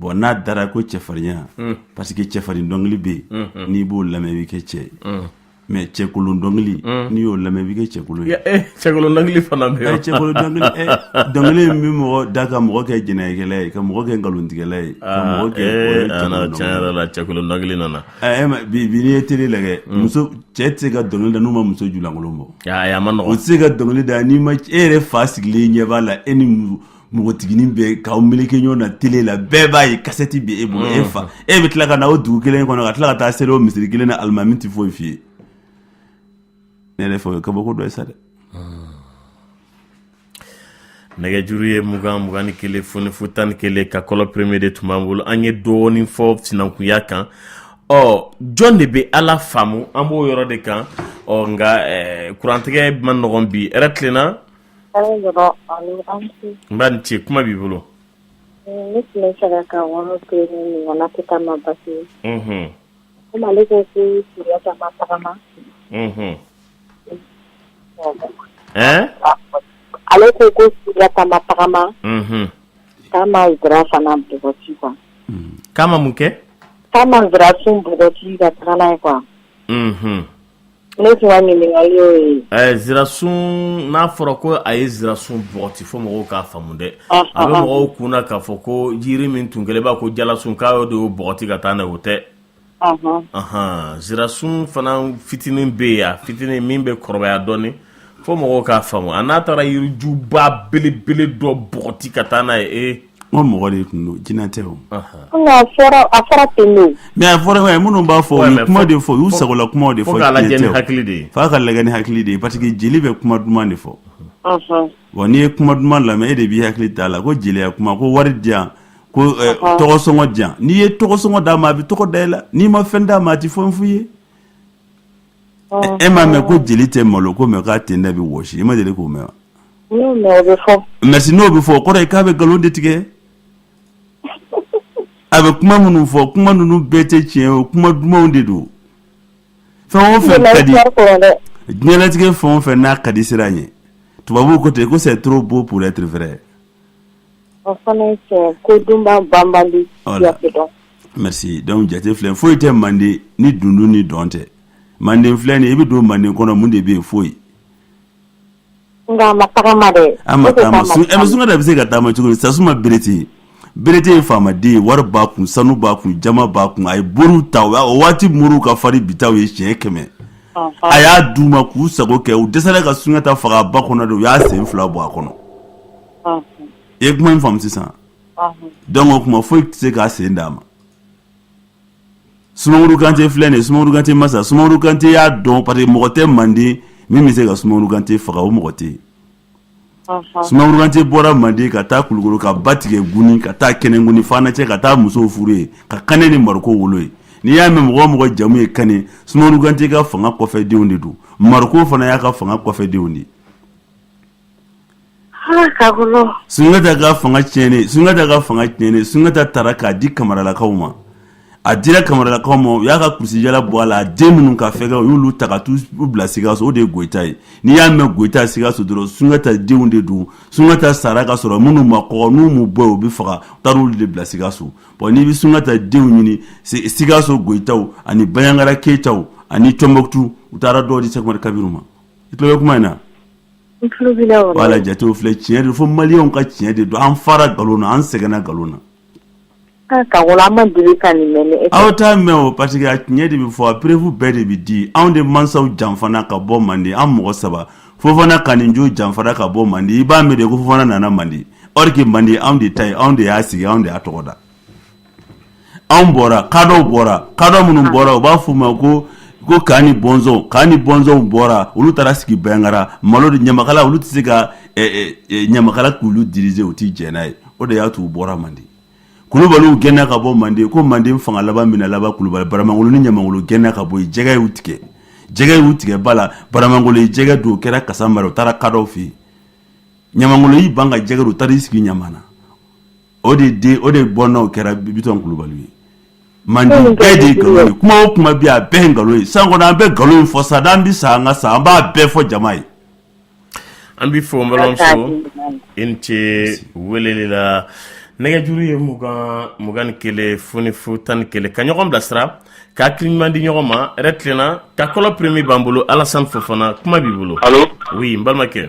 bon n'a dara ko cɛfarinya parce que cɛfarin dɔnkili bɛ yen n'i b'o lamɛn i bɛ kɛ cɛ ye mais cɛkolon dɔnkili n'i y'o lamɛn i bɛ kɛ cɛkolon ye cɛkolon dɔnkili fana bɛ yen cɛkolon dɔnkili min bɛ mɔgɔ da ka mɔgɔ kɛ jɛnɛyakɛla ye ka mɔgɔ kɛ nkalontigɛla ye tiɲɛ yɛrɛ la cɛkolon dɔnkili nana bi n'i ye tele lajɛ muso cɛ tɛ se ka dɔnkili da n'u ma muso julankolon bɔ ma o tɛ se ka dɔnkili da n'i ma e yɛrɛ fa sigilen ɲɛ b'a la e ni npogotiginin bɛ k'aw meleke ɲɔgɔn na tele la bɛɛ b'a ye kasɛti bɛ e bolo e fa e bɛ tila ka na o dugu kelen kɔnɔ ka tila ka taa seli o misiri kelen na alimami tɛ foyi f'i ye ne yɛrɛ fɛ o ye kabako dɔ ye sa dɛ nɛgɛjuru ye mugan mugan ni kelen fu ni fu tan ni kelen Kakɔlɔ premier de tun b'an bolo an ye dɔɔnin fɔ sinankunya kan ɔ jɔn de bɛ ala faamu an b'o yɔrɔ de kan ɔ nka kurantigɛ man nɔgɔn bi hɛrɛ tilenna Nba i ni ce kuma b'i bolo ne tun b'a fɛ ka yɔrɔ kelen ɲininka n'a tɛ i ma basi ye komi ale ko ko sunjata ma tagama ale ko ko sunjata ma tagama k'a ma nsira fana bɔgɔti quoi k'a ma mun kɛ k'a ma nsirasun bɔgɔti ka taga n'a ye quoi Ne tun ka ɲininkali y'o ye. Ɛɛ nsirasun n'a fɔra ko a ye nsirasun bɔgɔti fo mɔgɔw k'a faamu dɛ. Ɔnhɔn. A bɛ mɔgɔw kun na k'a fɔ ko jiri min tun kɛlen b'a ko jalasun k'a y'o de bɔgɔti ka taa n'a ye o tɛ. Ɔnhɔn. Ɔnhɔn nsirasun fana fitinin bɛ yen, a fitinin min bɛ kɔrɔbaya dɔɔnin fo mɔgɔw k'a faamu, a n'a taara yirijuba belebele dɔ bɔgɔti ka taa n'a ye ee. N ko mɔgɔ de tun don jinɛ tɛ o mais a fɔra a minnu b'a fɔ u ye kuma de fɔ u y'u sagola kumaw de fɔ, fo k'a lajɛ ni hakili de ye, f'a ka lajɛ ni hakili de ye parce que jeli bɛ kuma duman de fɔ, unhun, wa n'i ye kuma duman lamɛn e de b'i hakili t'a la ko jeliya kuma ko wari di yan ko ɛ tɔgɔ sɔngɔ di yan n'i ye tɔgɔ sɔngɔ d'a ma a bɛ tɔgɔ da i la n'i ma fɛn d'a ma a tɛ fɛn f'i ye e m'a mɛn ko jeli tɛ malo ko mais k'a tenda bɛ wosi i ma deli k'o mɛn merci n'o bɛ fɔ o kɔrɔ ye k'a bɛ nkalon de tigɛ a bɛ kuma minnu fɔ kuma ninnu bɛɛ tɛ tiɲɛ o kuma dumanw de don fɛn o fɛn ka di diɲɛlatigɛ fɛn o fɛn n'a ka di siran a ɲɛ tubabuw ko ten ko c'est trop beau pour être vrai O fana ye tiɲɛ ye, ko dunbaa banbali jate tɛ dɔn, merci donc jate filɛ foyi tɛ mande ni dunun ni dɔn tɛ, mande filɛ nin ye i bɛ don mande kɔnɔ mun de bɛ yen foyi, nka a ma tagama dɛ, a ma tagama, ɛ Sunjata bɛ se ka tagama cogo di Sasuma Berete, Berete ye faamaden ye wari b'a kun, sanu b'a kun, jama b'a kun, a ye moriw ta o waati moriw ka farin ni bi taw ye siɲɛ kɛmɛ, ɔnhɔn, a y'a d'u ma k'u sago kɛ u dɛsɛra ka Sunjata faga ba kɔnɔ de u y'a sen fila bɔ a kɔnɔ i ye kuma in faamu sisan donc o kuma foyi tɛ se k'a sen d'a ma sumaworo kante filɛ nin ye sumaworo kante masa sumaworo kante y'a dɔn parce que mɔgɔ tɛ manden min bɛ se ka sumaworo kante faga o mɔgɔ tɛ yen sumaworo kante bɔra manden ka taa kulukoro ka ba tigɛ guni ka taa kɛnɛguni fana cɛ ka taa musow furu yen ka kane ni mariko wolo ye n'i y'a mɛn mɔgɔ o mɔgɔ jamu ye kane sumaworo kante ka fanga kɔfɛ denw de don mariko fana y'a ka fanga kɔfɛ denw de ye sunjata ka fanga tiɲɛnen sunjata ka fanga tiɲɛnen sunjata taara k'a di kamaralakaw ma a dira kamaralakaw ma u y'a ka kulusijala bɔ a la a den minnu ka fɛgɛ u y'olu ta ka t'u bila sikaso o de ye goyita ye n'i y'a mɛn goyita sikaso dɔrɔn sunjata denw de don sunjata sara ka sɔrɔ minnu ma kɔgɔ n'u m'u bɔ u bɛ faga u taara olu de bila sikaso bon n'i bɛ sunjata denw ɲini sikaso goyitaw ani baɲangara keyitaw ani tɔnbɔkutu u taara dɔw di sɛkumari kabiru ma i tulo bɛ kuma in na voilà jatew filɛ tiɲɛ de fo maliyɛnw ka tiɲɛ de don an fara nkalon na an sɛgɛnna nkalon na aw t'a mɛn o parce que a tiɲɛ de bɛ fɔ a preuve bɛɛ de bɛ di anw de mansaw janfana ka bɔ mande an mɔgɔ saba fofana kaninjo janfara ka bɔ mande i b'a mɛn de ko fofana nana mande or que mande anw de ta ye anw de y'a sigi anw de y'a tɔgɔ da anw bɔra kadɔw bɔra kadɔ minnu ah. bɔra u b'a f'u ma ko ko kani bɔnzɔn kani bɔnzɔnw bɔra olu taara sigi baɲangara malo de ɲamakala olu tɛ se ka eh, eh, eh, ɲamakala k'olu diriger u tɛ jɛn n'a ye o de y'a to u bɔra manden kulubaliw gɛnna ka bɔ manden ko manden fanga laban mina laban kulubali baramangolo ni ɲamangolo gɛnna ka bɔ yen jɛgɛ y'u tigɛ jɛgɛ y'u tigɛ ba la baramangolo ye jɛgɛ dun kɛra kasanbara u taara kadɔw fɛ yen ɲamangolo y'i ban ka jɛgɛ dun u taara i sigi ɲamana o de den o de bɔnna kɛra bitɔn kulubali ye mande bɛɛ de nkalon kuma o kuma bi a bɛɛ nkalon ye san kɔnɔ an bɛ nkalon fɔ sa n'an bɛ sa an ka sa an b'a bɛɛ fɔ jama ye an bɛ fɔ balimamuso i ce weleli la nɛgɛjuru ye mugan mugan ni kelen fu fu tan ni kelen ka ɲɔgɔn bilasira ka hakili ɲuman di ɲɔgɔn ma yɛrɛ tilenna kakɔlɔ premier b'an bolo alasan fofana kuma b'i bolo oui n balimakɛ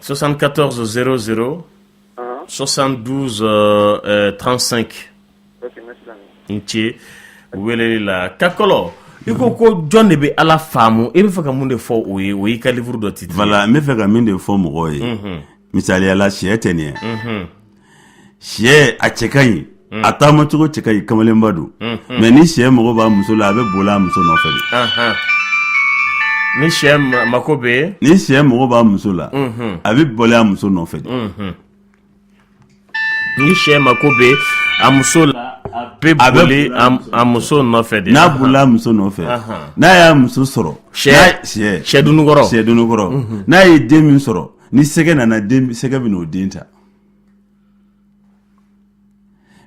74 00 72 35 n ce weleli la kakɔlɔ i ko ko jɔn de bɛ ala faamu i bɛ fɛ ka mun de fɔ o ye o y'i ka livre dɔ titre voilà n bɛ fɛ ka min de fɔ mɔgɔw ye misaliyala sɛ tɛ nin ye sɛ a cɛ ka ɲi hmm. a taamacogo cɛ ka ɲi kamalenba don hmm, hmm. mais ni sɛ mago b'a muso la a bɛ boli a muso nɔfɛ de ni sɛ mako bɛ ni sɛ mago b'a muso la a bɛ boli a muso nɔfɛ de ni sɛ mako bɛ a muso la a bɛ boli a muso nɔfɛ de n'a bolila a muso nɔfɛ n'a y'a muso sɔrɔ sɛ sɛ dunukɔrɔ sɛ dunukɔrɔ n'a ye den min sɔrɔ ni sɛgɛ nana sɛgɛ bɛ n'o den ta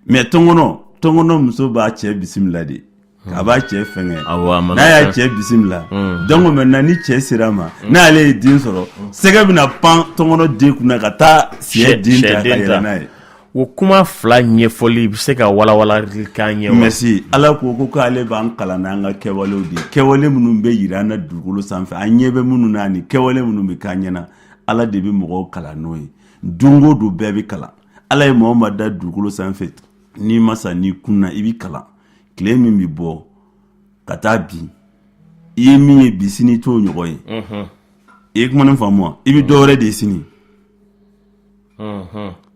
Mais tɔnkɔnɔ muso b'a cɛ bisimila de a b'a cɛ fɛnkɛ n'a y'a cɛ bisimila donc maintenant ni cɛ sera a ma n'ale ye den sɔrɔ sɛgɛ bɛna pan tɔnkɔnɔ den kunna ka taa sɛ den ta ka yɛlɛn n'a ye o kuma fila ɲɛfɔli i bɛ se ka walawala ka ɲɛ wa ala ko ko k'ale b'an kalan n'an ka kɛwale de kɛwale minnu bɛ yira an na dugukolo sanfɛ an ɲɛ bɛ minnu na ni kɛwale minnu bɛ k'an ɲɛna ala de bɛ mɔgɔw kalan n'o ye don o don bɛɛ bɛ kalan ala ye maa o maa da dugukolo sanfɛ n'i ma sa n'i kunna i bɛ kalan tile min bɛ bɔ ka taa bin i ye min ye bi sini t'o ɲɔgɔn ye i ye kuma nin faamu wa i bɛ dɔ wɛrɛ de ye sini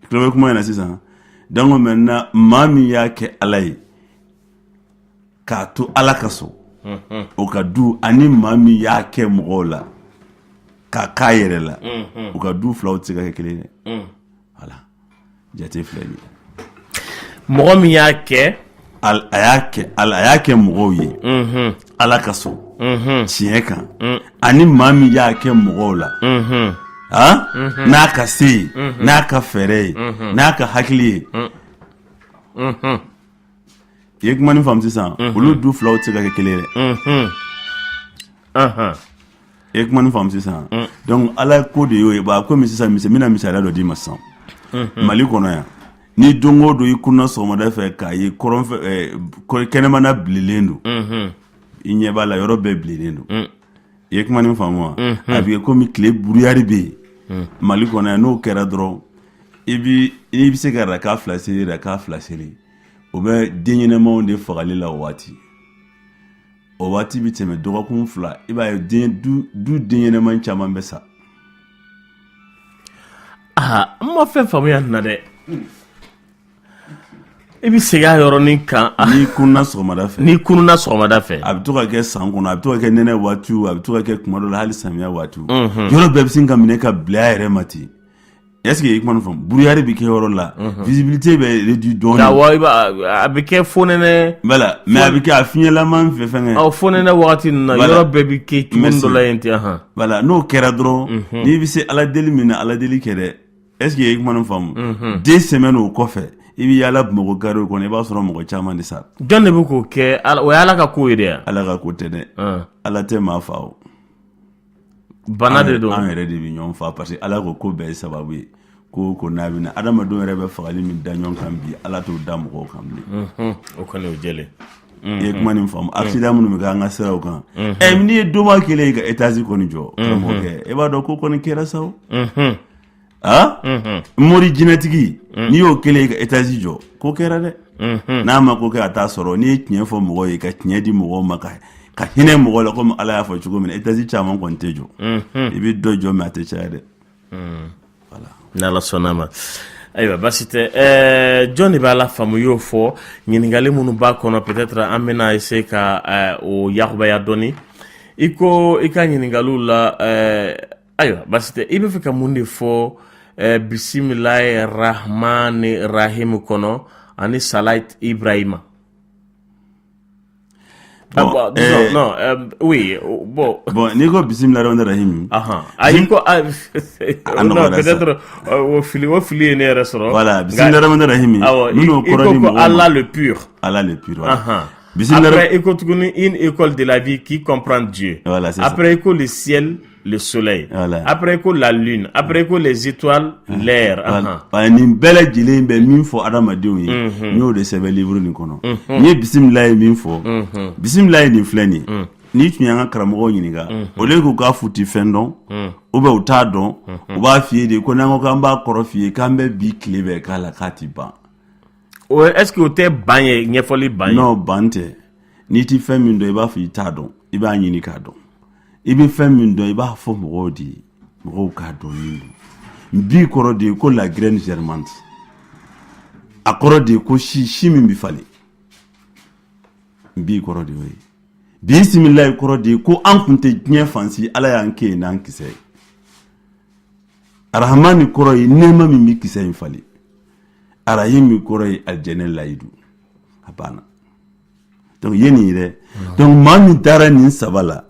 tulo bɛ kuma in na sisan donc maintenant maa min y'a kɛ ala ye k'a to ala kosɔn o ka du ani maa min y'a kɛ mɔgɔw la k'a k'a yɛrɛ la u ka du filaw tɛ se ka kɛ kelen ye voilà jate filɛ nin ye mɔgɔ min y'a kɛ a y'a kɛ a y'a kɛ mɔgɔw ye ala kosɔn tiɲɛ kan ani maa min y'a kɛ mɔgɔw la n'a ka se ye n'a ka fɛɛrɛ ye n'a ka hakili ye i ye kuma nin faamu sisan olu du filaw tɛ se ka kɛ kelen ye dɛ Ahan. i ye kuma nin faamu sisan donc ala ko de y'o ye ba komi sisan misi n bɛna misaliya dɔ d'i ma sisan mali kɔnɔ yan ni don o don i kunna sɔgɔmada fɛ k'a ye kɔrɔnfɛ eh, kɔ- kɛnɛmana bilenlen don i ɲɛ b'a la yɔrɔ bɛɛ bilenlen don i ye kuma nin faamu wa a bɛ kɛ komi tile brouillard bɛ yen mali kɔnɔ yan n'o kɛra dɔrɔn i bɛ se ka raka fila seli raka fila seli o bɛ den ɲɛnɛmaw de fagali la o waati o waati bɛ tɛmɛ dɔgɔkun fila i b'a ye du den ɲɛnɛma caman bɛ sa aa an ma fɛn faamuya nin na dɛ I bɛ segin a yɔrɔnin kan n'i kunna sɔgɔmada fɛ n'i kunna sɔgɔmada fɛ a bɛ to ka kɛ san kɔnɔ a bɛ to ka kɛ nɛnɛ waati a bɛ to ka kɛ tuma dɔ la hali samiya waati yɔrɔ bɛɛ bɛ sin ka minɛ ka bila a yɛrɛ ma ten est-ce que i kuma fɔ brouillard bɛ kɛ yɔrɔ la visibilité bɛ réduit dɔɔnin a bɛ kɛ fonɛnɛ mais a bɛ kɛ a fiɲɛlama fɛ fɛnkɛ fonɛnɛ waati ninnu na yɔrɔ bɛɛ bɛ kɛ cogo dɔ la yen ten n'o kɛra dɔrɔn n'i bɛ se ala deli min na ala deli kɛ dɛ Est-ce que i ye kuma nin faamu, unhun, deux semaines o kɔfɛ i bɛ yaala Bamakɔ carréw kɔnɔ i b'a sɔrɔ mɔgɔ caman de sara, jɔn de bɛ k'o kɛ o ye Ala ka ko ye dɛ, Ala ka ko tɛ dɛ, un, Ala tɛ maa faa o, bana de don, an yɛrɛ de bɛ ɲɔgɔn faa parce que Ala ko ko bɛɛ ye sababu ye ko o ko n'a bɛ na adamadenw yɛrɛ bɛ fagali min da ɲɔgɔn kan bi Ala t'o da mɔgɔw kan bilen, unhun, o kɔni o jɛlen, i ye kuma nin faamu accident minnu bɛ kɛ an ka siraw kan, ɛ n'i ye doma kelen ye ka étage kɔni jɔ karamɔgɔkɛ i b'a dɔn ko kɔni kɛra sa o, unhun. a mori jinɛtigi n'i y'o kelen ka étage jɔ ko kɛra dɛ n'a ma ko kɛ a t'a sɔrɔ n'i ye tiɲɛ fɔ mɔgɔ ye ka tiɲɛ di mɔgɔ ma ka ka hinɛ mɔgɔ la komi ala y'a fɔ cogo min étage caman kɔni tɛ jɔ i bɛ dɔ jɔ mais a tɛ caya dɛ ni ala sɔnna ma ayiwa basi tɛ ɛɛ jɔn de b'a la faamu y'o fɔ ɲininkali minnu b'a kɔnɔ peut-être an bɛna essayer ka ɛɛ, o yakubaya dɔɔni i ko i ka ɲininkaliw la ɛɛ, ayiwa basi tɛ i b'a fɛ ka mun de fɔ eh, bisimilayi rahmani rahim kɔnɔ ani salat ibrahima Ah, bon, bon, disons, eh, non, euh, oui, oh, bon. Bon, n'i ko bisimilayi rahmani rahim. Ahan. Ayi ko a non peut-être euh, o fili o fili ye ne yɛrɛ sɔrɔ. Voilà, bisimilayi rahmani rahim. Awɔ, i ko ko Allah le pur. Allah le pur. Ahan. Après, i ko tuguni une école de la vie qui comprend Dieu. Voilà, Après, i ko le ciel. le soleil voilà. après ko la lune après ko les étoiles ah. l'air voilà. uh -huh. nin bɛɛ lajɛlen bɛ min fɔ adamadenw ye mm -hmm. n y'o de sɛbɛn livre nin kɔnɔ mm -hmm. n ye bisimilayi min fɔ mm -hmm. bisimilayi nin filɛ nin mm. n'i tun y'an ka karamɔgɔw ɲininka mm -hmm. au lieu k'u k'a f'u ti fɛn dɔn mm. ou bien u t'a dɔn mm -hmm. u b'a f'i ye de ko n'an ko k'an b'a kɔrɔ f'i ye k'an bɛ bi tile bɛɛ k'a la k'a ti ban o est ce que o tɛ ban ye ɲɛfɔli ban ye non ban tɛ n'i ti fɛn min dɔn i b'a fɔ i t'a dɔn i b'a ɲini k'a dɔn i bɛ fɛn min dɔn i b'a fɔ mɔgɔw de ye mɔgɔw k'a dɔn min don bi kɔrɔ de ye ko la graine germante a kɔrɔ de ye ko si si min bɛ falen bi kɔrɔ de y'o ye bi bisimilayi kɔrɔ de ye ko an kun tɛ diɲɛ fan si ala y'an kɛ yen n'an kisɛ ye arahamani kɔrɔ ye nɛɛma min bɛ kisɛ in falen arahimi kɔrɔ ye alijɛnɛ layidu a banna Donc ye nin ye dɛ donc maa min dara nin saba la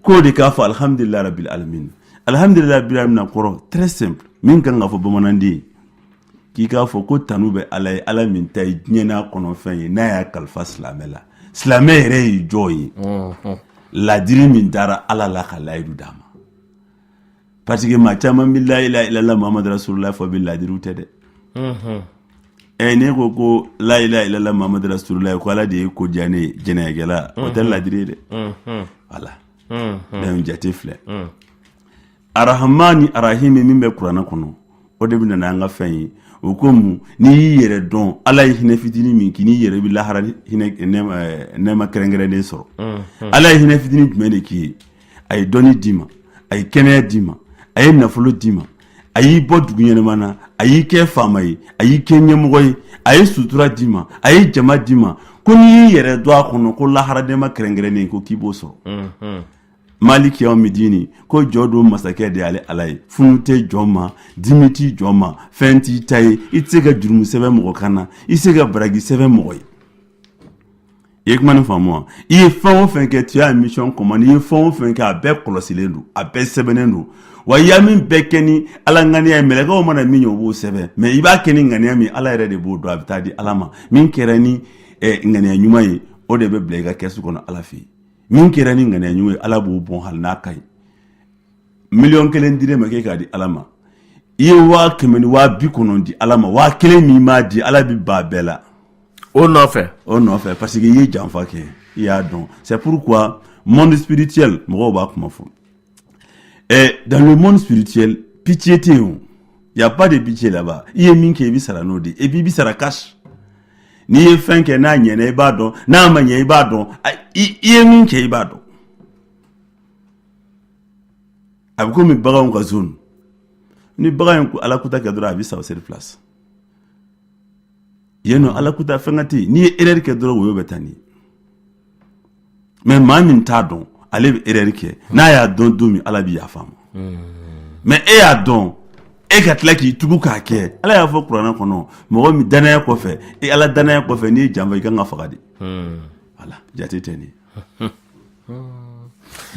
k'o de k'a fɔ alhamdulilayi rabil alamin alhamdulilayi rabil alamin kɔrɔ très simple min kan ka fɔ bamananden ye k'i k'a fɔ ko tanu bɛ ala ye ala min ta ye diɲɛ n'a kɔnɔfɛn ye n'a y'a kalifa silamɛ la silamɛ yɛrɛ ye jɔn ye laadiri min dara ala la ka layidu d'a ma parce que maa caman bɛ la ilaha illallah muhammadu rasulullah fɔ bɛɛ laadiri tɛ dɛ ɛ ne ko ko la ilaha illallah muhammadu rasulullah ye ko ala de ye ko diya ne jɛnɛyakɛla o tɛ laadiri ye dɛ voilà donc jate filɛ arahamani arahimi min bɛ kuranɛ kɔnɔ o de bɛ na an ka fɛn ye o ko mun n'i y'i yɛrɛ dɔn ala ye hinɛ fitinin min k'i n'i yɛrɛ bɛ lahara nɛɛma kɛrɛnkɛrɛnnen sɔrɔ ala ye hinɛ fitinin jumɛn de k'i ye a ye dɔnni d'i ma a ye kɛnɛya d'i ma a ye nafolo d'i ma a y'i bɔ dugu ɲɛnama na a y'i kɛ faama ye a y'i kɛ ɲɛmɔgɔ ye a ye sutura d'i ma a ye jama d'i ma ko n'i y'i yɛrɛ dɔn a kɔnɔ ko lahara nɛɛma kɛrɛnkɛrɛnnen ko k'i b'o sɔrɔ mm-hmm. maliki yawmidini ko jɔ don masakɛ de y'ale ala ye funu tɛ jɔn ma dimi tɛ jɔn ma fɛn t'i ta ye i tɛ se ka jurumu sɛbɛn mɔgɔ kan na i tɛ se ka baraji sɛbɛn mɔgɔ ye i ye kuma nin faamu wa i ye fɛn o fɛn kɛ tu es en mission commandée i ye fɛn o fɛn kɛ a bɛɛ kɔlɔsilen don a bɛɛ sɛbɛnnen don wa i y'a min bɛɛ kɛ ni ala ŋaniya ye mɛlɛkɛw mana min ye u b'o sɛbɛn mais i b'a kɛ ni ŋaniya min ala yɛrɛ de b'o dɔn a bɛ taa di ala ma min kɛra ni eh, ŋaniya ɲuman ye o de bɛ bila i ka kɛsu kɔnɔ ala fɛ yen min kɛra ni ŋaniya ɲuman ye ala b'o bɔn hali n'a ka ɲi miliyɔn kelen dir'e ma k'e k'a di ala ma i ye waa kɛmɛ ni waa bi kɔnɔntɔn di ala ma waa kelen min ma di ala bi ban bɛɛ la o nɔfɛ o nɔfɛ parce que i ye janfa kɛ i y'a dɔn c'est pourquoi monde spirituel mɔgɔw b'a kuma fɔ eh, dans le monde spirituel pitié tɛ yen il y a pas de pitié là-bas i ye min kɛ i bi sara n'o de et puis i bi sara cash n'i ye fɛn kɛ n'a ɲɛna i b'a dɔn n'a ma ɲɛ i b'a dɔn i ye min kɛ i b'a dɔn a bɛ komi baganw ka zone ni bagan ye ala kuta kɛ dɔrɔn a bɛ sa sur place yen nɔ ala kuta fɛn ka tɛ yen n'i ye erreur kɛ dɔrɔn woyo bɛ taa n'i mais maa min t'a dɔn ale bɛ erreur kɛ n'a y'a dɔn don min ala bɛ yafa a ma mais e y'a dɔn e ka tila k'i tugu k'a kɛ ala y'a fɔ kuranɛ kɔnɔ mɔgɔ min danaya kɔfɛ e ala danaya kɔfɛ n'i ye janfa i kan ka faga de voilà jate tɛ nin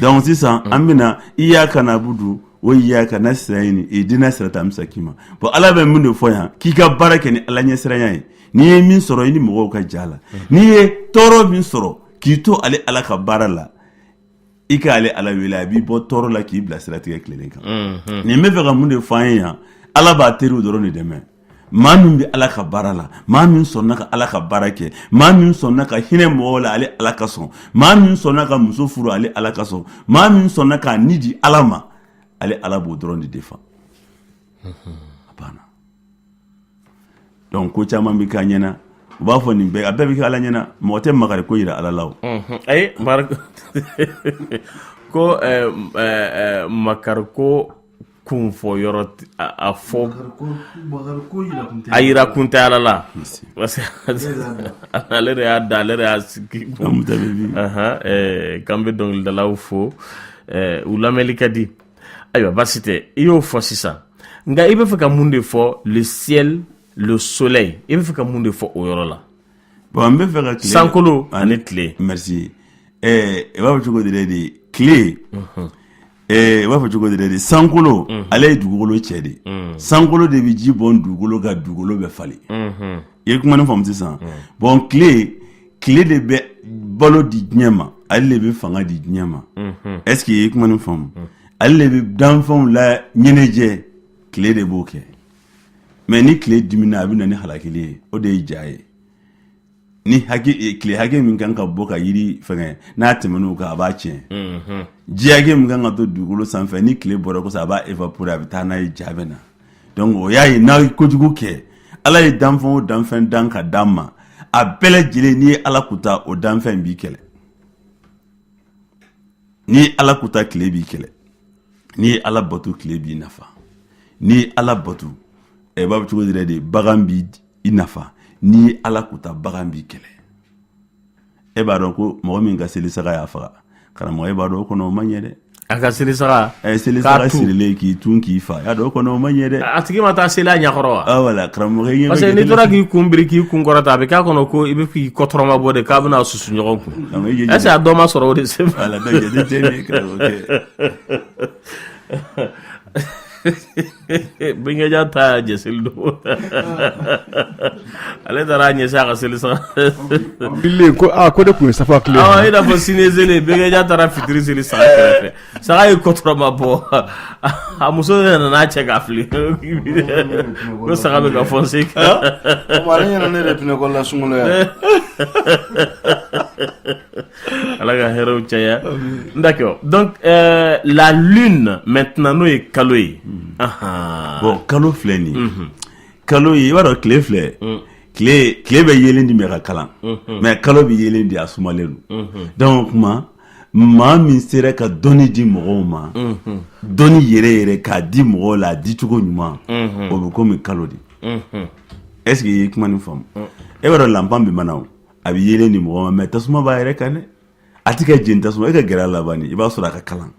donc sisan an bɛna iyaka nabudu wa iyaka nasitayini idina sirata musitakima bon ala bɛ mun de fɔ yan k'i ka baara kɛ ni ala ɲɛsiranya ye n'i ye min sɔrɔ i ni mɔgɔw ka j'a la n'i ye tɔɔrɔ min sɔrɔ k'i to ale ala ka baara la i ka ale ala wele a b'i bɔ tɔɔrɔ la k'i bila siratigɛ tilennen kan nin bɛ fɛ ka mun de fɔ an ye yan ala b'a teriw dɔrɔn de dɛmɛ maa min bɛ ala ka baara la maa min sɔnna ka ala ka baara kɛ maa min sɔnna ka hinɛ mɔgɔw la ale ala kosɔn maa min sɔnna ka muso furu ale ala kosɔn maa min sɔnna k'a ni di ala ma ale ala b'o dɔrɔn de defa a banna donc ko caman bɛ k'a ɲɛna u b'a fɔ nin bɛɛ a bɛɛ bɛ kɛ ala ɲɛna mɔgɔ tɛ makari ko yira ala la o ayi ko eh, eh, eh, makariko kun fɔ yɔrɔ a fɔ a yira kun tɛ ala la parce que ale de y'a da ale de y'a sigi k'an bɛ dɔnkilidalaw fo u lamɛnli ka di ayiwa baasi tɛ i y'o fɔ sisan nka i bɛ fɛ ka mun de fɔ le ciel le soleil i bɛ fɛ ka mun de fɔ o yɔrɔ la bon an bɛ fɛ ka tile sankolo ani tile merci ɛɛ i b'a fɔ cogo di dɛ de tile u b'a fɔ cogo di de sankolo ale ye dugukolo cɛ de sankolo de bɛ ji bɔn dugukolo kan dugukolo bɛ falen i ye kuma nin faamu sisan bon tile tile de bɛ balo di diɲɛ ma ale de bɛ fanga di diɲɛ ma est ce que i ye kuma nin faamu ale de bɛ danfɛnw la ɲɛnajɛ tile de b'o kɛ mais ni tile dimina a bɛ na ni halakili ye o de ye ja ye ni tile hakɛ min kan ka bɔ ka yiri fɛn n'a tɛmɛn'o kan a b'a tiɲɛ mhm. ji hakɛ min kan ka to dugukolo sanfɛ ni tile bɔra kosɛbɛ a b'a évaporer a bɛ taa n'a ye ja bɛ na donc o y'a ye n'a ye kojugu kɛ ala ye danfɛn o danfɛn dan ka dan ma a bɛɛ lajɛlen n'i ye ala kuta o danfɛn b'i kɛlɛ n'i ye ala kuta tile b'i kɛlɛ n'i ye ala bato tile b'i nafa n'i ye ala bato ɛɛ b'a fɔ cogo yɛrɛ de bagan b'i i nafa n'i ye ala kuta bagan b'i kɛlɛ e b'a dɔn ko mɔgɔ min ka seli saga y'a faga karamɔgɔ e b'a dɔn o kɔnɔ o man ɲi dɛ a ka seli saga ɛ seli saga sirilen k'i tu k'i faga y'a dɔn o kɔnɔ o man ɲi dɛ a tigi ma taa seli a ɲɛkɔrɔ wa ah wala karamɔgɔ ɲɛ parce que n'i tora k'i kun biri k'i kun kɔrɔta a bɛ k'a kɔnɔ ko i bɛ k'i kɔtɔrɔma bɔ de k'a bɛna susu ɲɔgɔn kun est ce que a dɔ ma sɔrɔ o de se ma wala donc jate tɛ ne karamɔgɔ bɛnkɛ ja ta y'a jɛ seli don ale taara a ɲɛ a ka seli saga ko aa ko de tun ye sa tile aa i n'a fɔ sini seli bɛnkɛ ja taara fitiri seli saga kɛrɛfɛ saga ye kɔtɔrɔma bɔ a muso yɛrɛ nana a cɛ k'a fili ko saga bɛ ka fɔn se kan ale ɲɛna ne yɛrɛ tun ne ko la sunkolo yan ala ka hɛrɛ caya d'accord donc euh, la lune maintenant n'o ye kalo ye ahan bon kalo filɛ nin ye kalo ye i b'a dɔn tile filɛ tile bɛ yeelen di mais a ka kalan mais kalo bɛ yeelen di a sumalen don donc o tuma maa min sera ka dɔnni di mɔgɔw ma dɔnni yɛrɛ yɛrɛ k'a di mɔgɔw la a di cogo ɲuman o bɛ komi kalo de est ce que i ye kuma nin faamu i b'a dɔn lanpan bɛ mana o a bɛ yelen di mɔgɔ ma mais tasuma b'a yɛrɛ kan dɛ a tɛ ka jeni tasuma e ka gɛrɛ a la ban i b'a sɔrɔ a ka kalan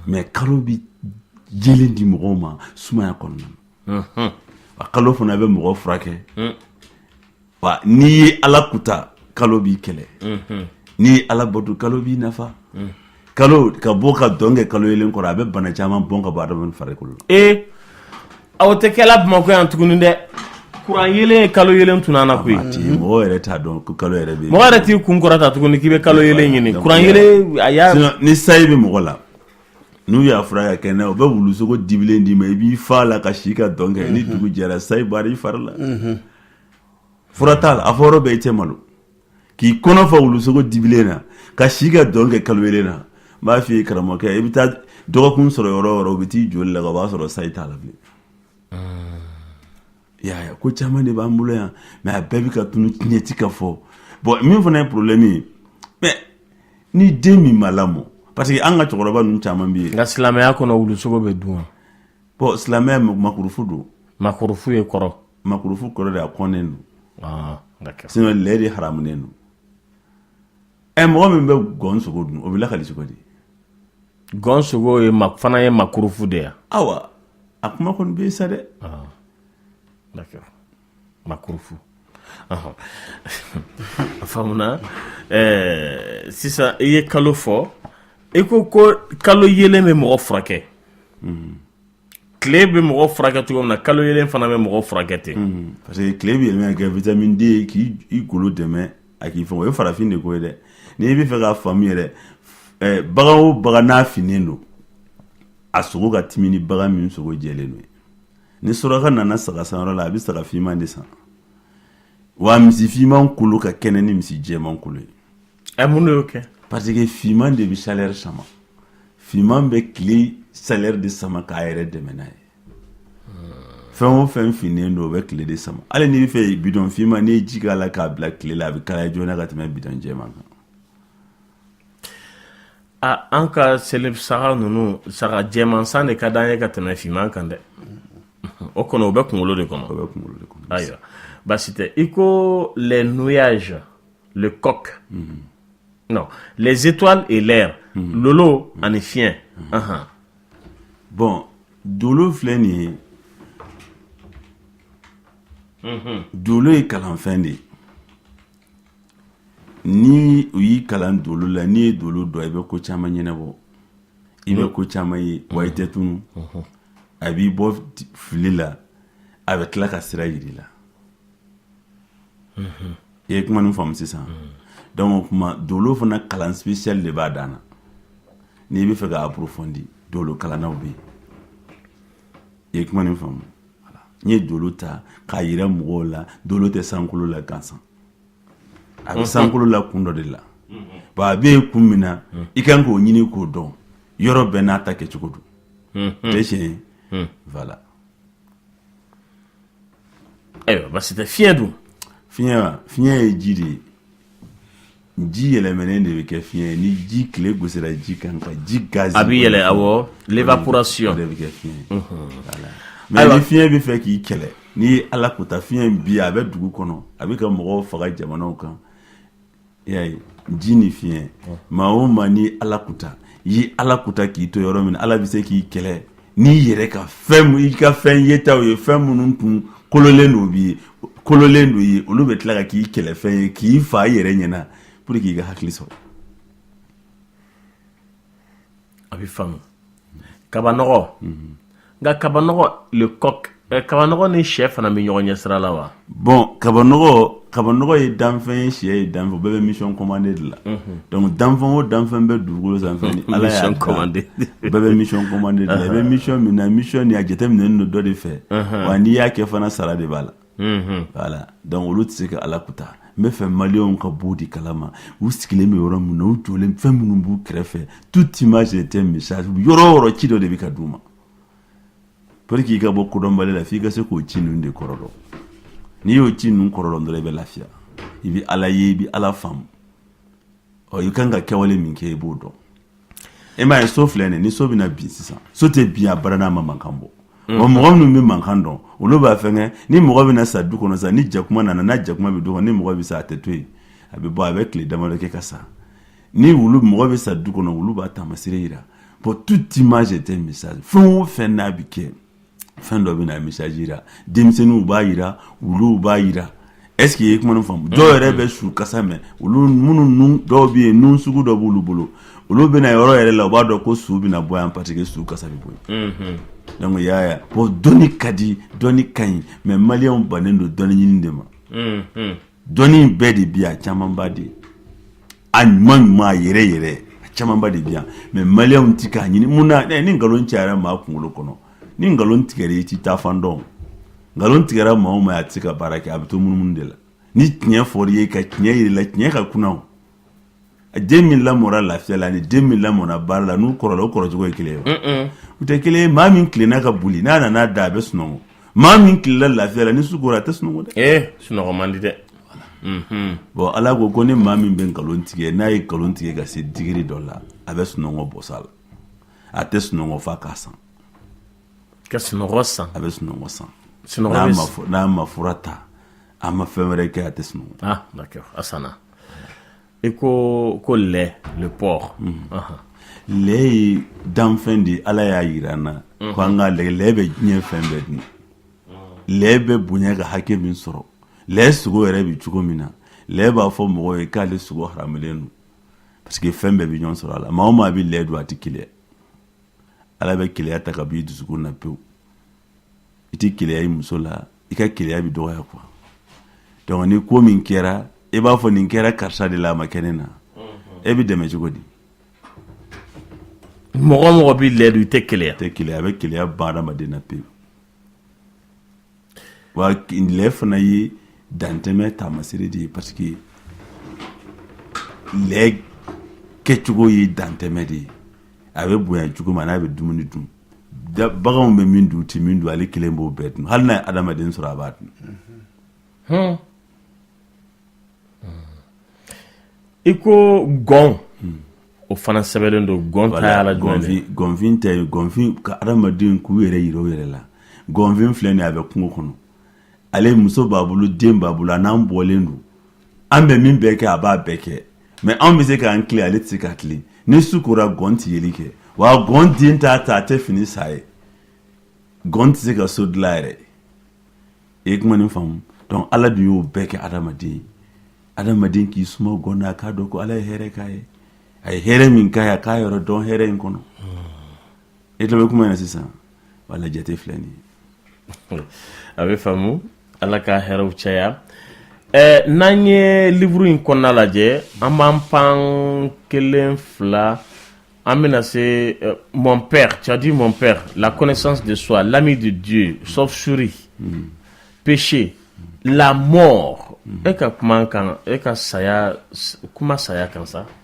mais kalo bɛ yelen di mɔgɔw ma sumaya kɔnɔna na a kalo fana bɛ mɔgɔ furakɛ wa n'i ye ala kuta kalo b'i kɛlɛ n'i ye ala bato kalo b'i nafa kalo ka bɔ ka dɔn kɛ kalo yelen kɔrɔ a bɛ bana caman bɔn ka bɔ adamaden farikolo la ee aw tɛ kɛla bamakɔ yan tuguni dɛ kuran yelen ye kalo yelen tunun an na koyi mɔgɔ yɛrɛ t'a dɔn ko kalo yɛrɛ bɛ mɔgɔ yɛrɛ t'i kun kɔrɔta tuguni k'i bɛ kalo yelen ɲini kuran yelen ayiwa ni sayi bɛ mɔgɔ la n'u y'a fura ka kɛɲɛ u bɛ wulusogo dibilen d'i ma i b'i fa la ka si ka dɔn kɛ ni dugu jɛra sayi bɔra i fari la fura t'a la a fɔ yɔrɔ bɛɛ i tɛ malo k'i kɔnɔ fa wulusogo dibilen na ka si ka dɔn kɛ kalo yelen na n b'a f'i ye karamɔgɔkɛ i bɛ taa dɔgɔkun sɔrɔ yɔrɔ yɔrɔ u bɛ t'i joli la o b'a sɔrɔ sayi t'a la bilen yaya ko caman de b'an bolo yan mais a bɛɛ bɛ ka tunun tiɲɛ tɛ ka fɔ bon min fana ye problème ye mais ni den min ma lamɔ parce que an ka cɛkɔrɔba ninnu caman bɛ yen nka silamɛya kɔnɔ wulusogo bɛ dun wa bon silamɛya makurufu don makurufu ye kɔrɔ makurufu kɔrɔ de a kɔnnen don ah, sinon lɛ de haramunen don ɛ eh, mɔgɔ min bɛ gɔn sogo dun o bɛ lakali cogo di gɔn sogo yɛrɛ fana ye makurufu de ye awa a kuma kɔni bɛ sa dɛ ah, d'accord makurufu a faamuna eh, sisan i ye kalo fɔ i ko ko kalo yelen bɛ mɔgɔ furakɛ mm. tile bɛ mɔgɔ furakɛ cogo min na kalo yelen fana bɛ mɔgɔ furakɛ ten hmm. parce que tile bɛ yɛlɛma ka kɛ vitamine D k'i golo dɛmɛ a k'i fin o ye farafin de ko ye dɛ n'i b'a fɛ k'a faamu yɛrɛ eh, bagan o bagan n'a finnen don a sogo ka timi ni bagan min sogo jɛlen don ni suraka nana saga san yɔrɔ la a bɛ saga finman de san wa misi finman kolo ka kɛnɛ ni misi jɛman kolo ye Ɛ mun de y'o kɛ parce que fiman de bɛ chaleur sama fiman bɛ tile chaleur de sama k'a yɛrɛ dɛmɛ n'a ye fɛn o fɛn finnen don o bɛ tile de sama hali n'i b'a fɛ bidɔn fiman n'i ye ji k'a la k'a bila tile la a bɛ kalaya joona ka tɛmɛ bidɔn jɛman kan a an ka seli saga ninnu saga jɛman san de ka d'an ye ka tɛmɛ fiman kan dɛ o kɔni o bɛ kunkolo de kɔnɔ o bɛ kunkolo de kɔnɔ ayiwa baasi tɛ i ko les nuages le coq non les étoiles et l'air lolo ani fiɲɛ ahan bon dolo filɛ nin ye dolo ye kalanfɛn de ye ni u y'i kalan dolo la n'i ye dolo dɔn i bɛ ko caman ɲɛnabɔ i bɛ ko caman ye wa i tɛ tunu a b'i bɔ t- fili la a bɛ tila ka sira jir'i la I ye kuma nin faamu sisan donc o tuma dolo fana kalan spécial de b'a dan na n'i b'a fɛ k'a approfondi dolo kalannaw bɛ yen i ye kuma nin faamu n ye dolo ta k'a jira mɔgɔw la dolo tɛ sankolo la gansan a bɛ sankolo la kun dɔ de la bon a bɛ yen kun min na i kan k'o ɲini k'o dɔn yɔrɔ bɛɛ n'a ta kɛcogo don tɛ tiɲɛ ye voilà ayiwa basi tɛ fiɲɛ dun fiɲɛ wa fiɲɛ ye ji de ye ji yɛlɛmɛnen de bɛ kɛ fiɲɛ ye ni ji tile gosira ji kan ka ji gazi a bɛ yɛlɛ awɔ l'évaporation de bɛ kɛ fiɲɛ ye voilà mais ni fiɲɛ bɛ fɛ k'i kɛlɛ ni ala kuta fiɲɛ bi a bɛ dugu kɔnɔ a bɛ ka mɔgɔw faga jamanaw kan y'a ye ji ni fiɲɛ maa o maa ni ala kuta i ye ala kuta k'i to yɔrɔ min ala bɛ se k'i kɛlɛ n'i yɛrɛ ka fɛn i ka fɛn yetaw ye fɛn minnu tun kololen don b'i ye kololen don ye olu bɛ tila ka k'i kɛlɛfɛn ye k'i fa i yɛrɛ ɲɛna pour que i ka hakili sɔrɔ a bɛ faamu kabanɔgɔ nka kaba kabanɔgɔ ni shɛ fana bɛ ɲɔgɔn ɲɛ sira la wa bon kaba kabanɔgɔ ye danfɛn ye shɛ ye danfɛn bɛɛ bɛ mission commandée de la donc danfɛn o danfɛn bɛ dugukolo sanfɛ bɛɛ bɛ mission commandée de la i bɛ mission min na mission nin a jateminɛlen don dɔ de fɛ wa n'i y'a kɛ fana sara de b'a la donc olu tɛ se ka ala kuta n bɛ fɛ maliyɛnw ka bɔ di kala ma u sigilen bɛ yɔrɔ min na u jɔlen fɛn minnu b'u kɛrɛfɛ toute image est un message yɔrɔ o yɔrɔ ci dɔ de bɛ ka d'u ma pour que i ka bɔ kodɔnbali la f'i ka se k'o ci ninnu de kɔrɔ dɔn n'i y'o ci ninnu kɔrɔ dɔn dɔrɔn i bɛ lafiya i bɛ ala ye i bɛ ala faamu ɔ i kan ka kɛwale min kɛ i b'o dɔn E m'a ye so filɛ nin ye ni so bɛna bin sisan so tɛ bin a bara n'a ma mankan bɔ wa mɔgɔ minnu bɛ mankan dɔn olu b'a fɛnkɛ ni mɔgɔ bɛna sa du kɔnɔ sisan ni jakuma nana n'a jakuma bɛ du kɔnɔ ni mɔgɔ bɛ sa a tɛ to yen a bɛ bɔ a bɛ tile damadɔ kɛ ka sa ni wulu mɔgɔ bɛ sa du kɔnɔ wulu b'a taamasere jira bon toute image est un message fɛn o fɛn n'a bɛ kɛ fɛn dɔ bɛna message jira denmisɛnninw b'a jira wuluw b'a jira est-ce que i ye kuma nin faamu dɔw mm-hmm. yɛrɛ bɛ su kasa mɛn olu minnu dɔw bɛ yen nun sugu dɔ b'olu bolo olu bɛ na yɔrɔ yɛrɛ la u b'a dɔn ko su bɛna bɔ yan parce que su kasa bɛ bɔ yen mm-hmm. donc y'a ye bon dɔnni ka di dɔnni ka ɲi mais maliyɛnw bannen don dɔnni ɲini de ma mm-hmm. dɔnni bɛɛ de bi yan a camanba de a ɲuman ɲuman a yɛrɛ yɛrɛ a camanba de bi yan mɛ maliyɛnw ti k'a ɲini mun na eh, ni nkalon cayara maa kunkolo kɔnɔ ni nkalon tigɛra i ti taa fan dɔn nkalon tigɛra maa o maa a ti se ka baara kɛ a bɛ to munumunu de la ni tiɲɛ fɔra i ye ka tiɲɛ yir'i la tiɲɛ ka kunan den min lamɔna lafiya la ni den min lamɔna baara la n'u kɔrɔla o kɔrɔcogo ye kelen ye u tɛ kelen ye maa min tilenna ka boli n'a nana da a bɛ sunɔgɔ maa min tilenna lafiya la ni su kora a tɛ sunɔgɔ dɛ sunɔgɔ man di dɛ bon ala ko ko ni maa min bɛ nkalon tigɛ n'a ye nkalon tigɛ ka se degré dɔ la a bɛ sunɔgɔ bɔs'a la a tɛ sunɔgɔ f'a k'a san ka sunɔgɔ san a bɛ sunɔgɔ san n'a ma fura ta a ma fɛn wɛrɛ kɛ a tɛ sunɔgɔ i ko lɛ le porc lɛ ye danfɛn de ala y'a yira an na ko an ka lɛ lɛ bɛ diɲɛ fɛn bɛɛ dun lɛ bɛ bonya ka hakɛ min sɔrɔ lɛ sogo yɛrɛ bɛ cogo min na lɛ b'a fɔ mɔgɔ ye k'ale sogo haramelen don parce que fɛn bɛɛ bɛ ɲɔgɔn sɔrɔ a la maa o maa bɛ lɛ dun a tɛ keleya ala bɛ keleya ta ka b'i dusukun na pewu i tɛ keleya i muso la i ka keleya bɛ dɔgɔya quoi dɔnku ni ko min kɛra e b'a fɔ nin kɛra karisa de la a ma kɛ ne na e bɛ dɛmɛ cogo di mɔgɔ o mɔgɔ bɛ lɛ dun i tɛ keleya tɛ keleya a bɛ keleya ban adamaden na pewu wa lɛ fana ye dantɛmɛ taamasire de ye parce que lɛ kɛcogo ye dantɛmɛ de ye a bɛ bonya cogo ma n'a bɛ dumuni dun baganw bɛ min dun u tɛ min dun ale kelen b'o bɛɛ dun hali n'a ye adamaden sɔrɔ a b'a dun i ko gɔn hmm. o fana sɛbɛnlen don gɔn ta y'a la jumɛn ye gɔnfin tɛ gɔnfin ka adamaden k'u yɛrɛ yira u yɛrɛ la gɔnfin filɛ nin a bɛ kungo kɔnɔ ale muso b'a bolo den b'a bolo a n'an bɔlen don an bɛ min bɛɛ kɛ a b'a bɛɛ kɛ mɛ anw bɛ se k'an tilen ale tɛ se k'a tilen ni su kora gɔn tɛ yeli kɛ wa gɔn den t'a ta a tɛ fini san a ye gɔn tɛ se ka so dilan yɛrɛ i ye kuma nin faamu dɔnku ala dun y'o bɛɛ kɛ adamaden ye adamaden k'i suma gɔn na a k'a dɔn ko ala ye hɛrɛ k'a ye a ye hɛrɛ min k'a ye a k'a yɔrɔ dɔn hɛrɛ in kɔnɔ e tulo bɛ kuma na sisan voilà jate filɛ nin ye a bɛ faamu ala ka hɛrɛw caya ɛɛ n'an ye liburu in kɔnɔna lajɛ an b'an pan kelen fila an bɛna se euh, mon père tu as dit mon père la connaissance de soi l'ami de Dieu chauve-souris mm. péché la mort e ka kuma kan e ka saya kuma saya kan sa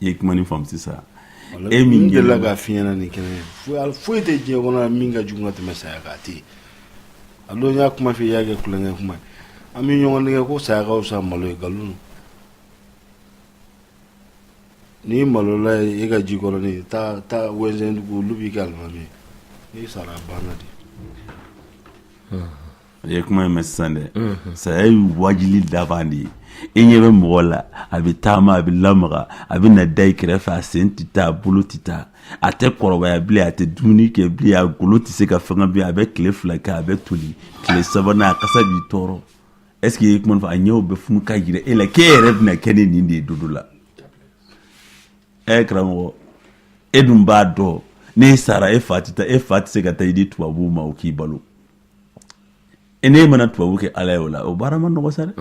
I ye kuma ni faamu sisan e min delila ka fi ɲɛna ni kɛnɛ ye foyi tɛ diɲɛ kɔnɔ min ka jugu ka tɛmɛ saya kan a tɛ yen maloya kuma f'i y'a kɛ kulonkɛ kuma an bɛ ɲɔgɔn dɛgɛ ko saya ka fisa malo ye nkalon n'i malola e ka Jikɔrɔnin taa Wɛnsɛndugu olu b'i kɛ alimami ye n'i sara a banna de A ye kuma in mɛn sisan dɛ saya ye wajibili laban de ye i ɲɛ bɛ mɔgɔ la a bɛ taama a bɛ lamaga a bɛ na da i kɛrɛfɛ a sen tɛ taa a bolo tɛ taa a tɛ kɔrɔbaya bilen a tɛ dumuni kɛ bilen a golo tɛ se ka fɛnkɛ bilen a bɛ tile fila kɛ a bɛ toli tile sabanan a kasa b'i tɔɔrɔ est-ce que i ye kuma faamu a ɲɛw bɛ funu k'a jira e la k'e yɛrɛ bɛna kɛ ne nin de ye don dɔ la ɛ karamɔgɔ e dun b'a dɔn n'e sara e fa tɛ taa e fa tɛ se ka taa i di tubabuw ma o k'i balo e n'e mana tubabu kɛ ala ye o la o baara ma nɔgɔ sa dɛ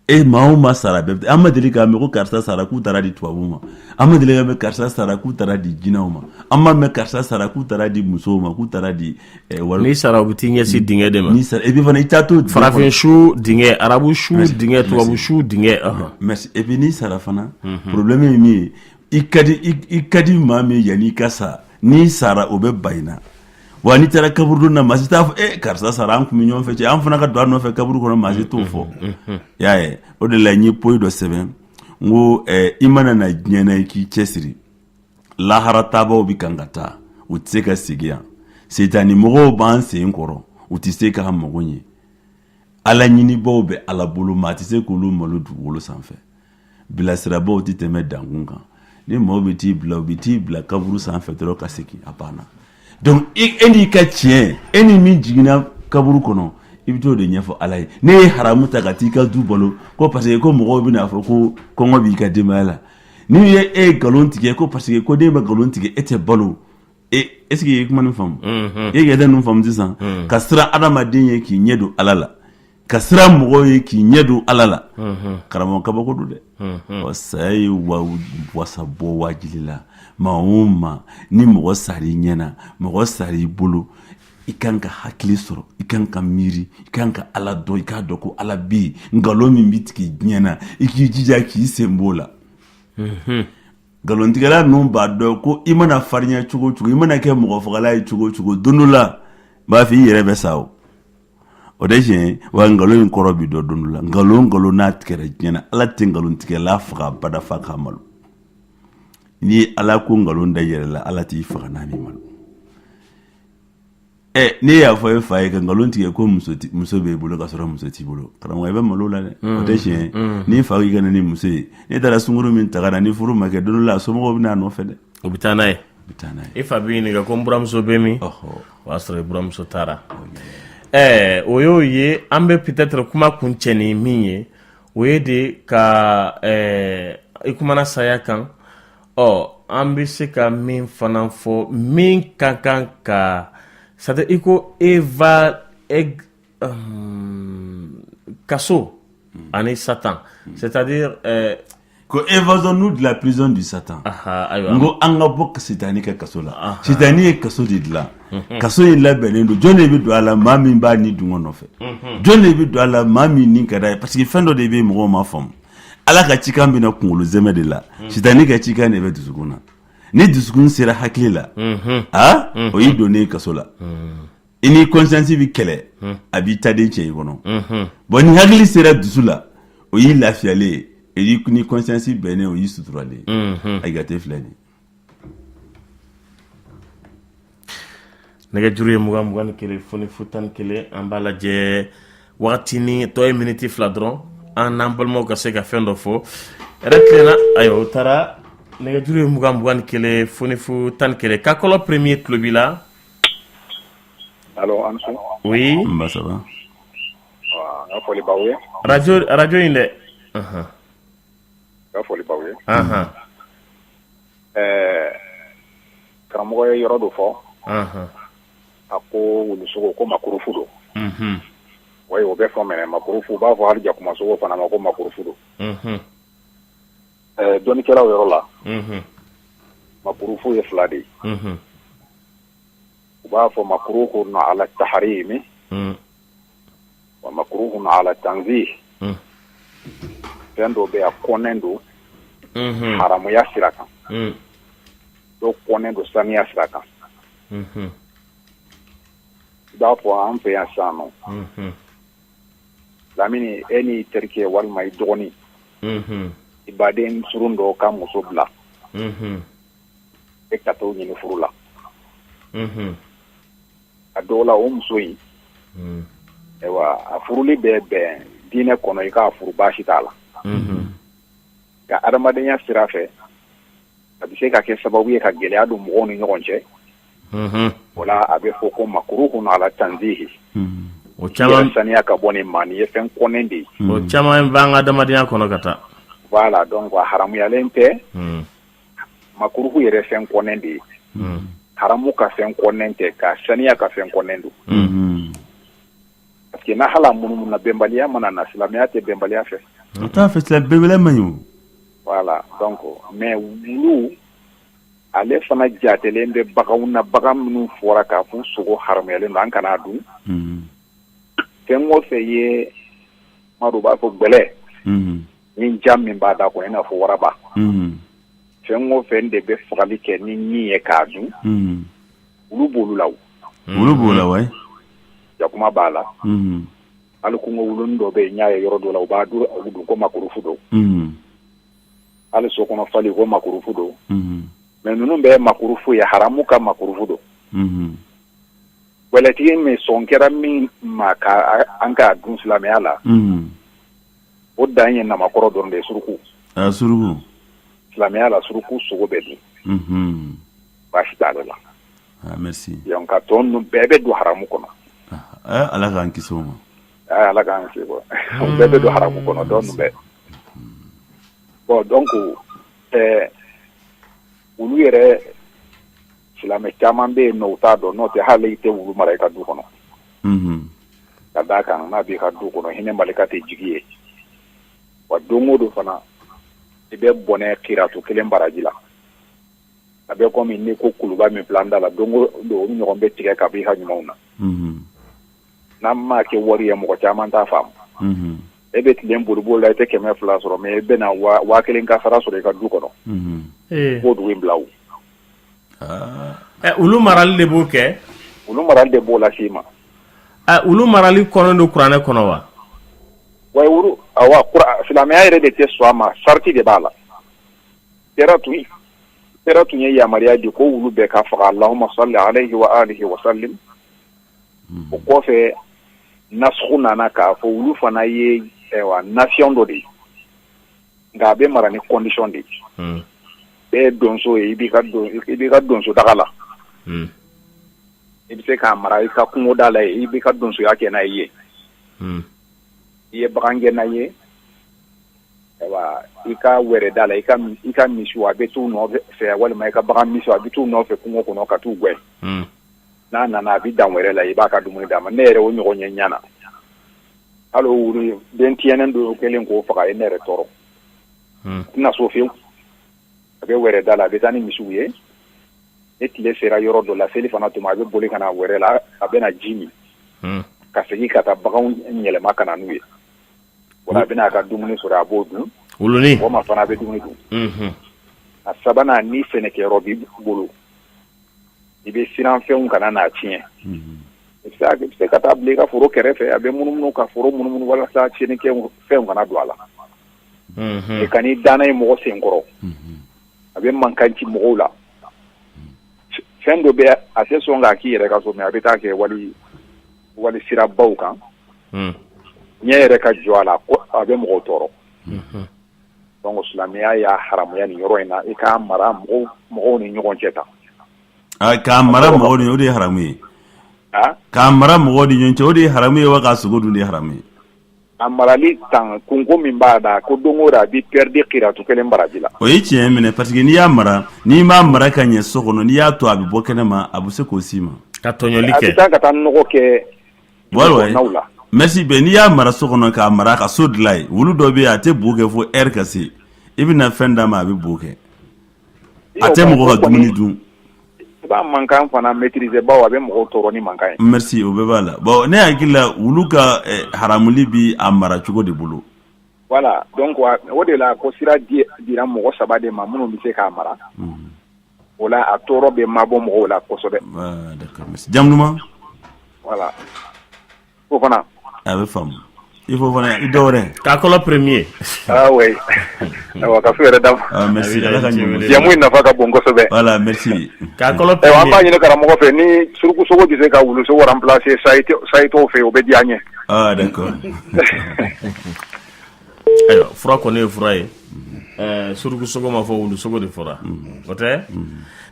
e maa o maa sara bɛɛ an ma deli k'a mɛn ko karisa sara k'u taara di tubabuw ma an ma deli k'a mɛn karisa sara k'u taara di jinɛw ma an ma mɛn karisa sara k'u taara di musow ma k'u taara di eh, wari n'i sara u bɛ t'i ɲɛsin dingɛ de ma n'i sara et puis fana i t'a dɔn farafin su dingɛ arabu su dingɛ tubabu su dingɛ merci et puis n'i sara fana mhm. problème ye min ye i ka di i ka di maa min yanni i ka sa n'i sara o bɛ ban i na wa n'i taara kaburu na maa si t'a fɔ e eh, karisa sara an tun bɛ ɲɔgɔn fɛ cɛ an fana ka don a nɔfɛ kaburu kɔnɔ maa si t'o fɔ mm-hmm, mm-hmm. y'a ye o de la n ye poyi dɔ sɛbɛn n ko eh, i mana na diɲɛ na i k'i cɛsiri lahara taabaw bɛ kan ka taa u tɛ se ka segin yan setani mɔgɔw b'an sen kɔrɔ u tɛ se k'an mago ɲɛ ala ɲinibaaw bɛ ala bolo maa tɛ se k'olu malo dugukolo sanfɛ bilasirabaaw tɛ tɛmɛ dankun kan ni mɔgɔw bɛ t'i bila u bɛ t'i bila kaburu sanfɛ dɔrɔn ka segin a banna donc e n'i ka tiɲɛ e ni min jiginna kaburu kɔnɔ i bɛ t'o de ɲɛfɔ ala ye n'e ye haramu ta ka t'i ka du balo ko parce que ko mɔgɔw bɛna fɔ ko kɔngɔ b'i ka denbaya la n'i ye e ye nkalon tigɛ ko parce que ko n'e ma nkalon tigɛ e tɛ balo e est-ce que i ye kuma nin faamu i ye yɛrɛ ninnu faamu sisan ka siran adamaden ye k'i ɲɛ don ala la ka siran mɔgɔw ye k'i ɲɛ don ala la karamɔgɔ kabako don dɛ ɔ saya ye wa wasa bɔ wajili la maa o maa ni mɔgɔ sara i ɲɛ na mɔgɔ sara i bolo i kan ka hakili sɔrɔ i kan ka miiri i kan ka ala dɔn i k'a dɔn ko ala bɛ yen nkalon min bɛ tigɛ diɲɛ na i k'i jija k'i sen b'o la nkalontigɛla ninnu b'a dɔn ko i mana farinya cogo o cogo i mana kɛ mɔgɔ fagala ye cogo o cogo don dɔ la b'a fɔ i yɛrɛ bɛ sa o o de tiɲɛ wa nkalon in kɔrɔ bɛ dɔn don dɔ la nkalon nkalon n'a tigɛra diɲɛ na ala tɛ nkalontigɛla faga bada fo k'a malo n'i ye ala ko nkalon da yɛrɛ la ala t'i faga n'a m'i malo ɛ n'e y'a fɔ e fa ye ka nkalon tigɛ ko muso ti- muso b'e bolo ka sɔrɔ muso t'i bolo karamɔgɔ i bɛ malo la dɛ o tɛ tiɲɛ ye n'i fa y'i ka na ni muso ye n'e taara sungurun min ta ka na ni furu ma kɛ don dɔ la a somɔgɔw bɛ na a nɔfɛ dɛ u bɛ taa n'a ye u bɛ taa n'a ye e fa b'i ɲininka ko n buramuso bɛ min ɔhɔ o y'a sɔrɔ i buramuso taara ɛɛ o y'o ye an bɛ peut-être kuma kuncɛ ni min ye o ye de ka ɛɛ i kumana saya kan ɔ an bɛ se ka min fana fɔ min ka kan ka c'est-à-dire i ko eva kaso ani satan c'est-à-dire ko évasons-nous de la prison du satan n ko an ka bɔ sitanɛ ka kaso la sitanɛ ye kaso de dilan kaso in labɛnnen don jɔn de bɛ don a la maa min b'a ni dungo nɔfɛ jɔn de bɛ don a la maa min ni ka d'a ye parce que fɛn dɔ de bɛ yen mɔgɔw m'a faamu ala ka cikan bɛ na kunkolo sɛmɛ de la mm. sitanɛ ka cikan de bɛ dusukun na ni dusukun sera hakili la mm-hmm. a mm-hmm. o y'i donnen ye kaso la mm. i ni conscience bɛ kɛlɛ mm. a b'i taden cɛ i kɔnɔ mm-hmm. bon ni hakili sera dusu la o y'i lafiyalen ye i ni conscience bɛnnen o y'i suturalen ye a y'i ka te filɛ nin nɛgɛjuru ye mugan mugan ni kelen fu ni fu tan ni kelen an b'a lajɛ wagatinin tɔ ye miniti fila dɔrɔn an n'an balimaw ka se ka fɛn dɔ fɔ yɛrɛ tilenna ayiwa o taara nɛgɛjuru ye mugan mugan ni kelen fu ni fu tan ni kelen kakɔlɔ premier tulo b'i la Alo, a ni su. oui Nba ça va. Aa, N ka foli b'aw ye. radio radio in dɛ Ahan. Ka foli b'aw ye. Anhan. Ɛɛ karamɔgɔ ye yɔrɔ dɔ fɔ. Anhan. A ko wulu sogo ko makurufu don. Unhun. Oui o bɛ fɔ mais makurufu u b'a fɔ hali jakuma sogo fana ma ko makurufu don. Unhun. Ɛɛ dɔnnikɛlaw yɔrɔ la. Unhun. Makurufu ye fila de ye. Unhun. U b'a fɔ wa makuruhun ala tanzihi fɛn dɔ bɛ yen a kɔnnen don haramuya sira kan dɔw kɔnnen don saniya sira kan i b'a fɔ an fɛ yan Sanɔ Lamini e n'i terikɛ walima i dɔgɔnin i baden surun dɔ ka muso bila e ka t'o ɲini furu la a dɔw la o muso in ayiwa a furuli bɛ bɛn diinɛ kɔnɔ i k'a furu baasi t'a la nka adamadenya sira fɛ a bɛ se ka kɛ sababu ye ka gɛlɛya don mɔgɔw ni ɲɔgɔn cɛ o la a bɛ fɔ ko makuruhun ala tanzihi o caman saniya ka bɔ nin maa nin ye fɛn kɔnnen de ye o caman bɛ an ka adamadenya kɔnɔ ka taa voilà donc a haramuyalen tɛ Makuruhu yɛrɛ fɛn kɔnnen de ye haramu ka fɛn kɔnnen tɛ ka saniya ka fɛn kɔnnen don parce que n'a hala munumunu na bɛnbaliya mana na silamɛya tɛ bɛnbaliya fɛ o t'a fɛ silamɛ bɛnbaliya man ɲi voilà donc mais wulu ale fana jatelen bɛ baganw na bagan minnu fɔra k'a fɔ sogo haramuyalen don an kana dun fɛn o fɛn ye amadu b'a fɔ gɛlɛ ɲin jan min b'a da kɔnɔ i n'a fɔ waraba fɛn o fɛn de bɛ fagali kɛ ni ɲin ye k'a dun olu b' olu la olu b'o la wa jakuma b'a la hali kungo wuluni dɔ bɛ yen n y'a ye yɔrɔ dɔ la u b'a dun ko makurufu don hali so kɔnɔ fali ko makurufu don mais ninnu bɛɛ makurufu ye haramu ka makurufu don gɛlɛtigi min sɔn kɛra min ma k'an k'a dun silamɛya la o dan ye namakɔrɔ dɔrɔn de suruku suruku silamɛya la suruku sogo bɛ dun baasi t'a la nka tɔ ninnu bɛɛ bɛ don haramu kɔnɔ ala k'an kisi o ma ala k'an kisi o bɛɛ bɛ don haramu kɔnɔ tɔ bɛɛ bon donc ɛɛ wulu yɛrɛ silamɛ caman bɛ yen u t'a dɔn n'o tɛ hali i tɛ wulu mara i ka du kɔnɔ ka d'a kan n'a b'i ka du kɔnɔ hinɛ malika tɛ jigi yen wa don o don fana i bɛ bɔnɛ kiratu kelen baraji la a bɛ komi n'i ko kuluba min filɛ an da la don o don o ɲɔgɔn bɛ tigɛ ka b'i ka ɲumanw na n'an m'a kɛ wari ye mɔgɔ caman t'a faamu e bɛ tilen boliboli la i tɛ kɛmɛ fila sɔrɔ mais e bɛna waa kelen kasaara sɔrɔ i ka du kɔnɔ k'o dugu in bila ɛ wulu marali de b'o kɛ wulu marali de b'o las'i ma ɛ wulu marali kɔnnen don kuranɛ kɔnɔ wa wa wulu awa kura silamɛya yɛrɛ de tɛ sɔn a ma sarati de b'a la kira tun kira tun ye yamaruya di ko wulu bɛɛ ka faga allahumma salli alayhi wa alihi wa sallim o kɔfɛ nasugu nana k'a fɔ wulu fana ye ɛwa nation dɔ de ye nka a bɛ mara ni condition de i bɛ donso ye i b'i ka donso daga la i bɛ se k'a mara i ka kungoda la i b'i ka donsoya kɛ n'a ye i ye bagangɛnna ye wa i ka wɛrɛ da la i ka misiw a bɛ t'u nɔfɛ walima i ka bagan misiw a bɛ t'u nɔfɛ kungo kɔnɔ ka taa u gɛn n'a nana a bɛ dan wɛrɛ la i b'a ka dumuni d'a ma ne yɛrɛ o ɲɔgɔn ye n ɲɛ na hali o wulu in den tiɲɛnen don o kɛlen k'o faga a ye ne yɛrɛ tɔɔrɔ a tɛ na so fewu a bɛ wɛrɛ da la a bɛ taa ni misiw ye ni tile sera yɔrɔ dɔ la selifana tuma a bɛ boli ka na wɛrɛ la a bɛna ji min ka segin ka taa baganw yɛlɛma ka na n'u ye wala a bɛna a ka dumuni sɔrɔ a b'o dun wulunin walima fana a bɛ dumuni dun a sabanan ni sɛnɛkɛyɔrɔ b'i bolo i bɛ siran fɛnw kana n'a tiɲɛ se ka taa bila i ka foro kɛrɛfɛ a bɛ munumunu ka foro munumunu walasa tiɲɛnikɛfɛnw kana don a la i ka i dan ye mɔgɔ sen kɔrɔ a bɛ mankan ci mɔgɔw la fɛn dɔ bɛ a tɛ sɔn k'a k'i yɛrɛ ka so mais a bɛ taa kɛ wali wali sirabaw kan n yɛrɛ ka jɔ a la a bɛ mɔgɔw tɔɔrɔ Donc silamɛya y'a haramuya ni yɔrɔ in na i ka mara mɔgɔw ni ɲɔgɔn cɛ kan ka mara o de ye haramu ye k'a mara mɔgɔ ni ɲɔgɔn cɛ o de ye haramu ye wa ka sogo dun de haramu ye a marali tan kun ko min b'a da ko don a bɛ perdre kiratu kelen baraji la o ye tiɲɛ minɛ parce que n'i y'a mara n'i m'a mara ka ɲɛ so kɔnɔ n'i y'a to a bɛ bɔ kɛnɛ ma a bɛ se k'o si ma ka tɔɲɔli kɛ ka taa kɛ merci bɛn n'i y'a mara so kɔnɔ k'a mara ka so dilan a ye wulu dɔ bɛ a tɛ bo kɛ fo lɛri ka se i bɛna fɛn d'a ma a bɛ bo kɛ a tɛ mɔgɔ ka dumuni dun b'a mankan fana maîtriser bawo a bɛ mɔgɔw tɔɔrɔ ni mankan ye. Merci o bɛɛ b'a la bon ne hakili la wulu ka eh, haramuli bi a mara cogo de bolo. Voilà donc o de la ko sira di dira mɔgɔ saba de ma minnu bɛ se k'a mara. Mm. o la a tɔɔrɔ bɛ mabɔ mɔgɔw la kosɛbɛ Voilà, d'accord, merci. jamu ɲuman voilà fofana a bɛ faamu i fofana i dɔ wɛrɛ kakɔlɔ premier ah oui ayiwa ka fo yɛrɛ da Ah, merci Abida, ala ka i ɲɛ wele. jamu in nafa ka bon kosɛbɛ voilà merci kakɔlɔ ayiwa an b'a premier ɲini karamɔgɔ fɛ ni surukusogo bɛ se ka wulusogo remplacer sayitɔw fɛ o bɛ diya n ye ah d'accord Ayiwa fura kɔni ye fura ye suruku sogo ma fɔ wulu sogo de fɔra o tɛ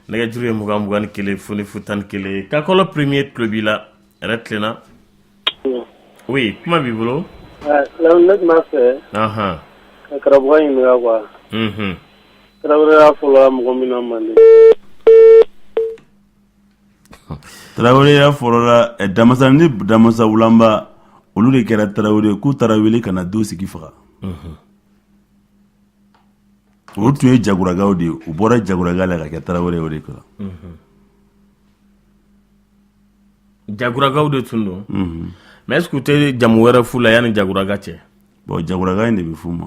nɛgɛjuru ye mugan mugan ni kelen fu ni fu tan ni kelen kakɔlɔ premier tulo b'i la hɛrɛ tilenna oui kuma b'i bolo ne tun b'a fɛ ka karamɔgɔ ɲininka quoi taraweleya fɔlɔ mɔgɔ min na mande taraweleya fɔlɔla eh, damasa ni damasa wulanba olu de kɛra tarawele k'u taara wele ka na do sigi faga mhm. olu tun ye jaguragaw de ye u bɔra jaguraga la ka kɛ tarawele o de kɔrɔ mhm. jaguragaw de tun don mhm. mais est ce que u tɛ jamu wɛrɛ f'u la yanni jaguraga cɛ bon jaguraga in de bɛ f'u ma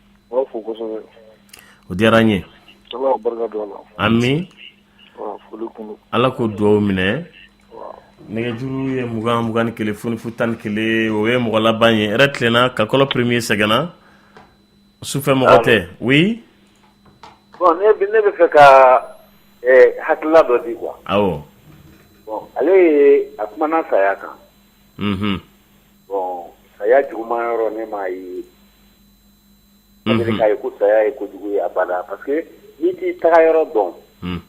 o diyara n ye ala k'o dugawu minɛ nɛgɛjuru ye mugan mugan ni kelen fu ni fu tan ni kelen o ye mɔgɔ laban ye yɛrɛ tilenna ka kɔlɔ premier sɛgɛnna sufɛ mɔgɔ tɛ hakilila dɔ di ale a kumana saya kan Bon saya juguman yɔrɔ ne m'a ye, unhun, ne bɛ k'a ye ko saya ye kojugu ye abada parce que n'i t'i taga yɔrɔ dɔn, un,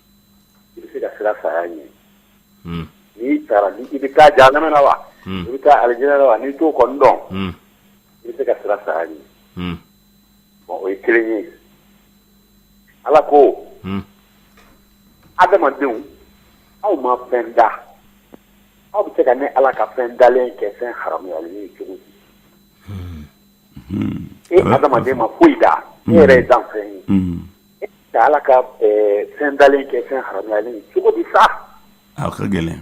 i bɛ se ka siran saya ɲɛ, un, n'i taara i bɛ taa jahanama na wa, un, i bɛ taa alijana na wa n'i t'o kɔni dɔn, un, i bɛ se ka siran saya ɲɛ, un, bon o ye kelen ye Ala ko, un, adamadenw aw ma fɛn da Aw bɛ se ka ne ala ka fɛn dalen kɛ fɛn haramuyalen ye cogo di e adamaden ma foyi da e yɛrɛ ye danfɛn ye ka ala ka fɛn dalen kɛ fɛn haramuyalen ye cogo di sa a ka gɛlɛn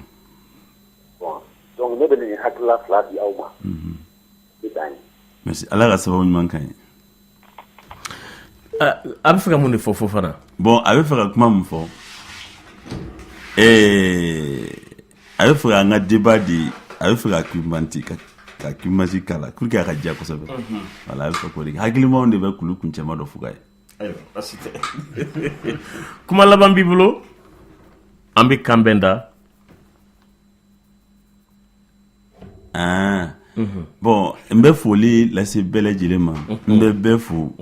donc ne bɛ nin hakilila fila di aw ma merci ala ka sababu ɲuman k'a ye A bɛ fɛ ka mun de fɔ fofana bon a bɛ fɛ ka kuma min fɔ ɛɛ a bɛ fɛ an ka débat diya a bɛ fɛ ka argumenter ka kumasi k'a la pour que a ka diya kosɛbɛ voilà a bɛ fɛ hakilimaw de bɛ kulu kun cɛ dɔ fo ye kuma laban b'i bolo an bɛ k'an bɛn da aa bon n bɛ foli lase bɛɛ lajɛlen ma n bɛ bɛɛ fo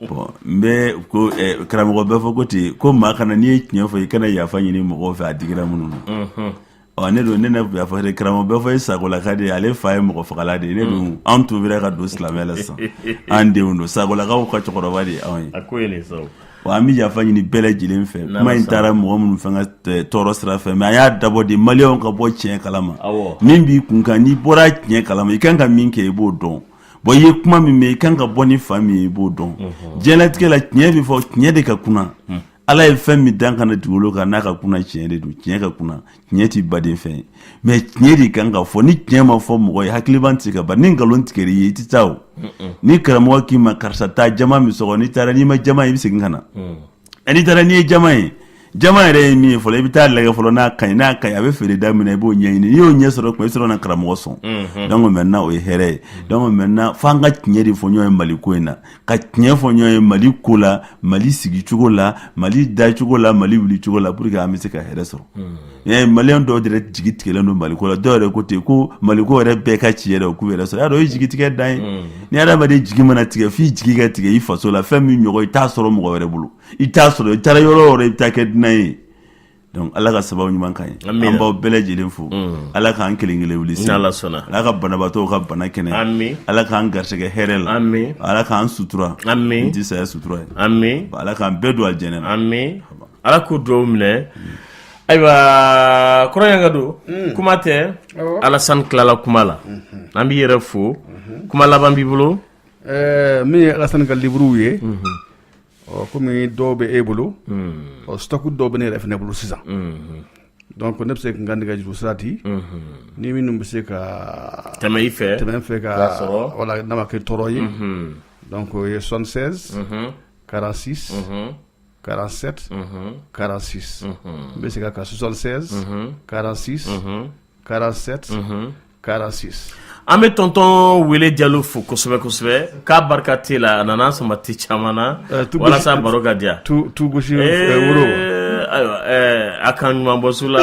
bon n bɛ ko karamɔgɔ bɛfɔ ko ten ko maa kana n'i ye tiɲɛ fɔ i kana yafa ɲini mɔgɔ fɛ a digira minnu na ɔ ne don ne ne yafa karamɔgɔ bɛfɔ ye sakolaka de ye ale fa ye mɔgɔ fagala de ye ne don an tuubira ka don silamɛya la sisan an denw don sakolakaw ka cɛkɔrɔba de ye anw ye wa an bɛ yafa ɲini bɛɛ lajɛlen fɛ kuma in taara mɔgɔ minnu fɛ ka tɔɔrɔ sira fɛ mais an y'a dabɔ de maliyɛnw ka bɔ tiɲɛ kalama min b'i kun kan n'i bɔra tiɲɛ kalama i kan ka min kɛ i b'o dɔn bon i ye kuma min mɛn i kan ka bɔ ni faamu min ye i b'o dɔn diɲɛlatigɛ la tiɲɛ bɛ fɔ tiɲɛ de ka kunan ala ye fɛn min dan ka na dugukolo kan n'a ka kunan tiɲɛ de don tiɲɛ ka kunan tiɲɛ t'i baden fɛn ye mais tiɲɛ de kan ka fɔ ni tiɲɛ ma fɔ mɔgɔ ye hakiliban tɛ se ka ban ni nkalon tigɛr'i ye i tɛ taa o ni karamɔgɔ k'i ma karisa taa jama min sɔgɔ n'i taara n'i ma jama ye i bɛ segin ka na mm. n'i taara n'i ye jama ye jama yɛrɛ ye min ye fɔlɔ i bɛ taa lajɛ fɔlɔ n'a ka ɲi n'a ka ɲi a bɛ feere da min na i b'o ɲɛɲini n'i y'o ɲɛ sɔrɔ kuma i sɔrɔ na karamɔgɔ sɔn mm-hmm. donc maintenant o ye hɛrɛ ye donc maintenant f'an ka tiɲɛ de fɔ ɲɔgɔn ye mali ko in na ka tiɲɛ fɔ ɲɔgɔn ye mali ko la mali sigi cogo la mali da cogo la mali wuli cogo la pour que an bɛ se ka hɛrɛ sɔrɔ hmm. maliyɛn dɔw yɛrɛ jigi tigɛlen don mali ko la dɔw yɛrɛ ko ten ko mali ko yɛrɛ bɛɛ ka ci yɛrɛ k'u yɛrɛ sɔrɔ y'a dɔn o ye jigi tigɛ dan ye hmm. ni adamaden jigi mana tigɛ f'i jigi ka tigɛ i faso la fɛn min ɲɔgɔn i t'a sɔrɔ mɔgɔ wɛrɛ bolo i t'a sɔrɔ i taara yɔrɔ o yɔrɔ i bɛ taa kɛ dunan ye Donc Ala ka sababu ɲuman k'an ye. Amina. An b'aw bɛɛ lajɛlen fo. Unhun. Ala k'an kelen kelen wuli se. N'Ala sɔnna. Ala ka banabaatɔw ka bana kɛnɛya. Ami. Ala k'an garisɛgɛ hɛrɛ la. Ami. Ala k'an sutura. Ami. Ni tɛ saya sutura ye. Ami. Ala k'an bɛɛ don alijɛnɛ na. Ami. Ala k'o duwawu minɛ. Ayiwa kɔrɔ yan ka don. Un. Kuma tɛ. Awɔ. Alasani tilala kuma la. Unhun. An b'i yɛrɛ fo. Unhun. Kuma laban b'i bolo. Ɛɛ min ye Alasani ka livre ye. Unhun. Ɔ kɔmi dɔw bɛ e bolo ɔ su dɔw bɛ ne yɛrɛ ne bolo sisan dɔn ko ne bɛ se kan nɛgɛ juruuru sira di ni minnu bɛ se ka tɛmɛ i fɛ tɛmɛ fɛ ka wala nama kɛ tɔɔrɔ ye dɔn ko ye sɔsɛ karasi karasɛ karasi n bɛ se ka ka sɔsɛ karasi 47 46 an bɛ tɔntɔn wele jalo fo kosɛbɛ kosɛbɛ k'a barika tɛ la a nana samedi caman na walasa baro ka diya tu tu gosi woro ayiwa a k'an ɲuman bɔ su la